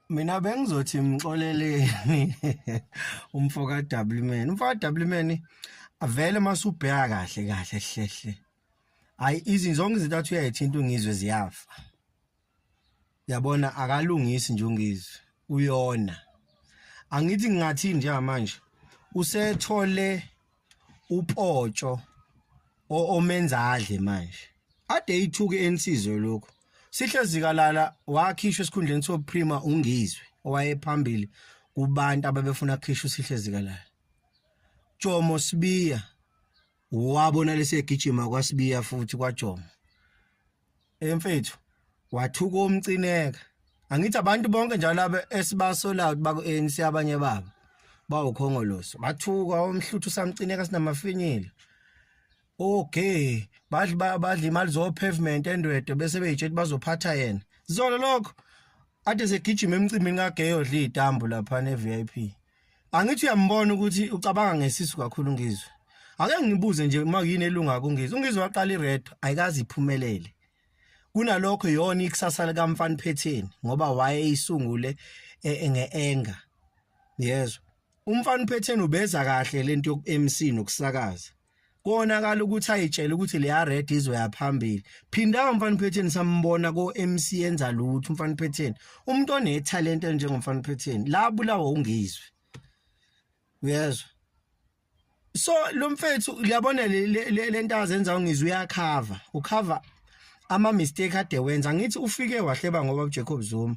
mina bengizothi mxoleleni umfo ka Wman umfo ka Wman avele masubheka kahle kahle hlehle hayi izinto zonke izinto athi uyayithinta ungizwe ziyafa yabona akalungisi nje ungizwe uyona angithi ngingathini njengamanje usethole upotsho omenzadle manje ade ithuke ensizwe lokho sihle zikalala wakhishwa esikhundleni soprima ungizwe owayephambili kubantu ababefuna khishwa sihle zikalala Jomo Sibiya wabona lesegijima kwaSibiya futhi kwaJomo hey mfethu wathuka umcineka angithi abantu bonke njalo laba esibasolayo baku ANC abanye babo bawukhongoloso bathuka omhluthu samcineka sinamafinyile okay badli badli imali zo pavement endwedo bese beyitshela bazophatha yena zolo lokho ade segijima emcimbini kageyo dli itambu lapha ne VIP angithi uyambona ukuthi ucabanga ngesisu kakhulu ngizwe ake ngibuze nje uma yini elunga kungizwe ungizwe waqala ired ayikazi iphumelele kunalokho yona ikusasa likamfana phetheni ngoba waye isungule e, e, ngeenga yezwa umfana phetheni ubeza kahle lento yokuMC nokusakaza konakala ukuthi ayitshele ukuthi leya red izoya phambili phinda umfana uphetheni sambona ko MC enza lutho umfana uphetheni umuntu one talent njengomfana uphetheni la bulawa ungizwe uyezwa so lo mfethu uyabona le nto azenza ungizwe uyakhava ukhava ama mistake ade wenza ngithi ufike wahleba ngoba uJacob Zuma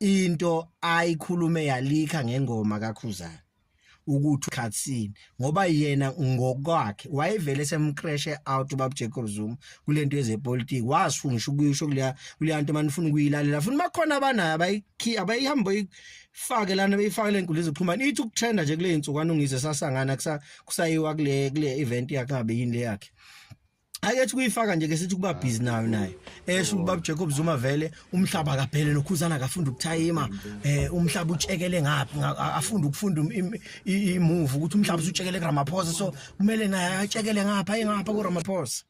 into ayikhulume yalikha ngengoma kakhuzana ukuthi ukhatsini ngoba yena ngokwakhe wayevele semcreshe out ubab Jacob Zuma kulento yezepolitiki wasunisha ukuyisho kuleya kuleya nto manifuna ukuyilalela futhi bakhona abanayo abayikhi abayihamba ifake lana beyifake lenkulu iziphumana ithi ukutrenda nje kule insukwana ungizwe sasangana kusayiwa kule kule event yakhe abe yini le yakhe ake thi kuyifaka nje ke sithi kuba busy nayo naye esho ubaba Jacob Zuma vele umhlaba akaphele nokhuzana akafunda ukuthayima eh umhlaba utshekele ngaphi afunda ukufunda imove ukuthi umhlaba usutshekele kuRamaphosa so kumele naye atshekele ngapha engapha kuRamaphosa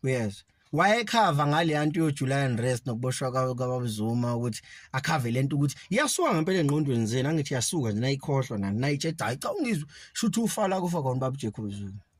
yes wayekhava ngaleya nto yoJuly unrest nokuboshwa kwabaBuzuma ukuthi akhave lento ukuthi iyasuka ngempela engqondweni zenu angithi yasuka nje nayikhohlwa nani nayitshe cha cha ungizwe shuthi ufala kufa kona babu Jacob Zuma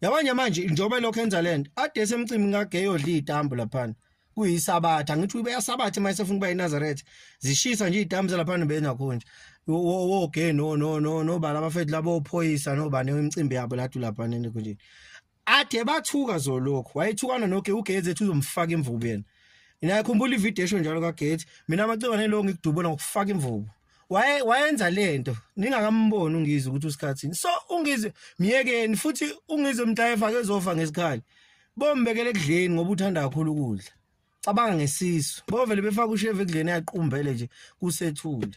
yabanye manje njengoba lokho enza lento ade esemcimbi ngake yodla idambu laphana kuyisabatha ngithi ubeyasabatha uma esefuna ukuba eNazareth zishisa nje idambu zalaphana bena khonje wo wo ke no no no no bala abafethu labo ophoyisa no bane imicimbi yabo lathi laphana nje konje athe bathuka zolokhu wayethukana noke ugeze ethi uzomfaka imvubu yena ngiyakhumbula ivideo esho njalo kaGate mina amacebane lo ngikudubula ngokufaka imvubu waye wayenza lento ningakamboni ungizwe ukuthi usikhathini so ungizwe myekeni futhi ungizwe mtayefa kezofa ngesikhali bombekele ekudleni ngoba uthanda kakhulu ukudla cabanga ngesisu bovele befaka usheve ekudleni yaqumbele nje kusethule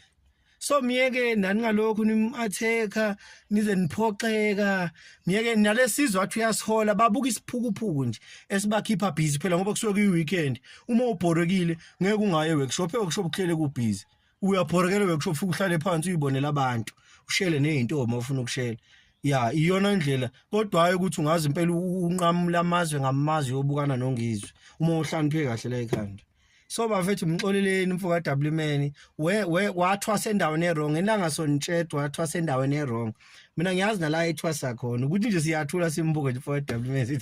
so myeke nani ngalokhu nimatheka nize niphoxeka myeke nalesizwe athi uyasihola babuka isiphukuphuku nje esibakhipha busy phela ngoba kusuke kuyi weekend uma ubhorekile ngeke ungaye workshop workshop kuhlele ku busy uyabhorekela bekusho ufike uhlale phansi uyibonela abantu ushele nezintombi ofuna ukushela ya iyona indlela kodwa hayi ukuthi ungazi impela unqamula amazwe ngamazwe yobukana nongizwe uma uhlaniphe kahle la ekhanda so bafethu mxoleleni mfo ka WMan we we wathwasa endaweni ewrong elanga sonitshetwa wathwasa endaweni ewrong mina ngiyazi nala ethwasa khona ukuthi nje siyathula simbuke nje mfo ka WMan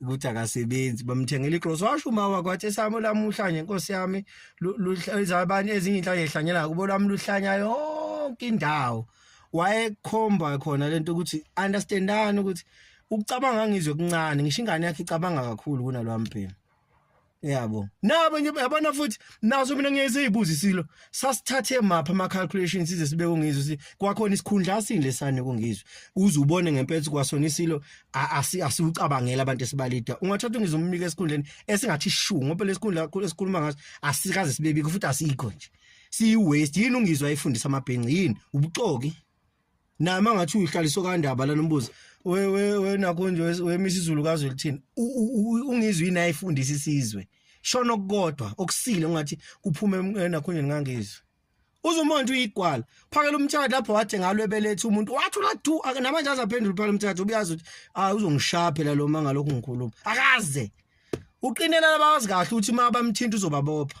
ukuthi akasebenzi bamthengela iclose washo uma wakwathi esami lamuhla nje inkosi yami luzabani ezinye inhlanye ehlanyela kubo lami luhlanya yonke indawo wayekhomba khona lento ukuthi understandani ukuthi ukucabanga ngizwe kuncane ngisho ingane yakhe icabanga kakhulu kunalwami phela yabo nabo nje yabona futhi naso mina ngiyezibuza isilo sasithathe mapha ama calculations size sibe kungizwe si kwakhona isikhundla asini lesane kungizwe uze ubone ngempethu kwasona isilo asiwucabangela abantu esibalida ungathatha ungizwe umbike esikhundleni esingathi shu ngoba lesikhundla esikhuluma ngaso asikaze sibebike futhi asikho nje siyi waste yini ungizwe ayifundisa amabhenci yini ubuxoki naye uma ngathi uyihlaliso kandaba lana umbuzo wena konje wemisa izulu kazwe lithini ungizwe yini ayifundisa isizwe shona okukodwa okusile ungathi kuphume enakhonjeni ngangizwe uzumonje uyigwala phakela umtshado lapho wathi ngalo ebelethe umuntu wathi ulathu namanje azaphendula phakela umtshado ubuyazi ukuthi hayi uzongishaya phela lo mangalokhu ngikhuluma akaze uqinela labawazi kahle ukuthi uma bamthinta uzobabopha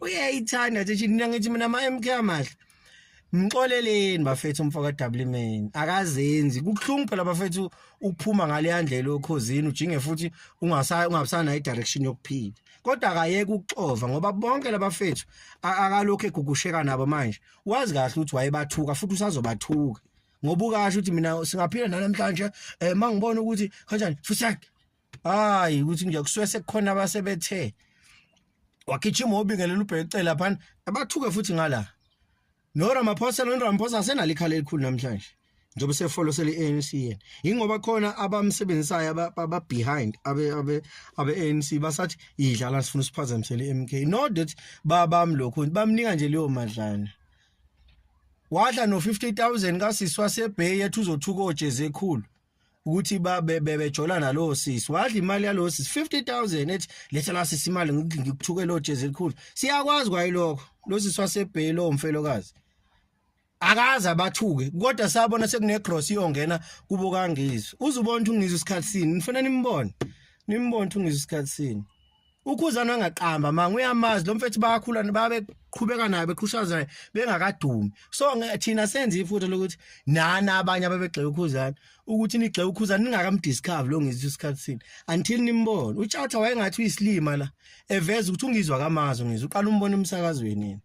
uyayithanda nje nje mina ngithi mina ama MK amahle Mxoleleni bafethu umfoka Dubleman akazenzi kuhlungu phela bafethu ukuphuma ngale yandlela okhozini ujinge futhi ungasa ungabusana idirection yokuphila kodwa akayeke ukuxova ngoba bonke labafethu akalokho egugusheka nabo manje wazi kahle ukuthi wayebathuka futhi usazobathuka ngoba ukasho ukuthi mina singaphila namhlanje eh mangibona ukuthi kanjani fusek hayi ukuthi nje kusuke sekukhona abasebethe wagijima obingelela ubhekecela phana abathuke futhi ngala no Ramaphosa no Ramaphosa asenalo ikhala elikhulu namhlanje njengoba sefolo seli ANC yena ingoba khona abamsebenzisayo aba behind abe abe abe ANC basathi idlala sifuna siphazamisele MK no that babam lokho bamnika nje leyo madlana wadla no 50000 kasiswa sebay ethi uzothuka ojeze ekhulu ukuthi babe bebejola nalowo sisi wadla imali yalowo sisi 50000 ethi letha la sisi imali ngikuthuke lo jezi elikhulu siyakwazi kwayilokho lo sisi wasebheli omfelokazi akaze abathuke kodwa sabona sekunegross iyongena kubo kangizwe uzubona ukuthi ungizwe isikhathi sini nifuna nimbone nimbone ukuthi ungizwe isikhathi sini ukhuzana angaqamba manga uyamazi lo mfethu bayakhula babeqhubeka naye beqhushaza naye bengakadumi so thina senze ifuthi lokuthi nana abanye ababegxeka ukhuzana ukuthi nigxeka ukhuzana ningakamdiscover lo ngizwe isikhathi sini until nimbone utshatha wayengathi uyisilima la eveza ukuthi ungizwa kamazo ngizwe uqala umbona emsakazweni yena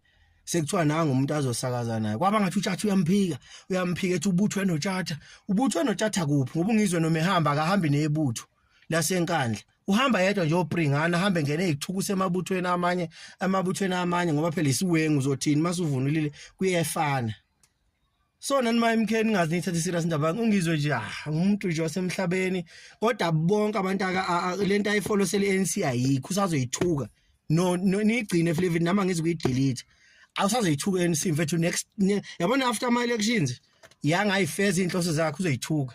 sekuthiwa nanga umuntu azosakaza naye kwaba ngathi utshatha uyamphika uyamphika ethi ubuthwe notshatha ubuthwe notshatha kuphi ngoba ungizwe noma ehamba akahambi nebutho lasenkandla uhamba yedwa nje opringana ahambe ngene ezithuku semabuthweni amanye amabuthweni amanye ngoba phela isiwengu uzothini masuvunulile kuyefana so nani ma MK ningazi nithathe serious indaba ungizwe nje ah, umuntu nje wasemhlabeni kodwa bonke abantu aka lento ayifollow sele ANC ayikho usazoyithuka no nigcine Flavin nama ngizi kuyidelete awusazoyithuka ANC mfethu next yabona after my elections yangayifeza inhloso zakhe uzoyithuka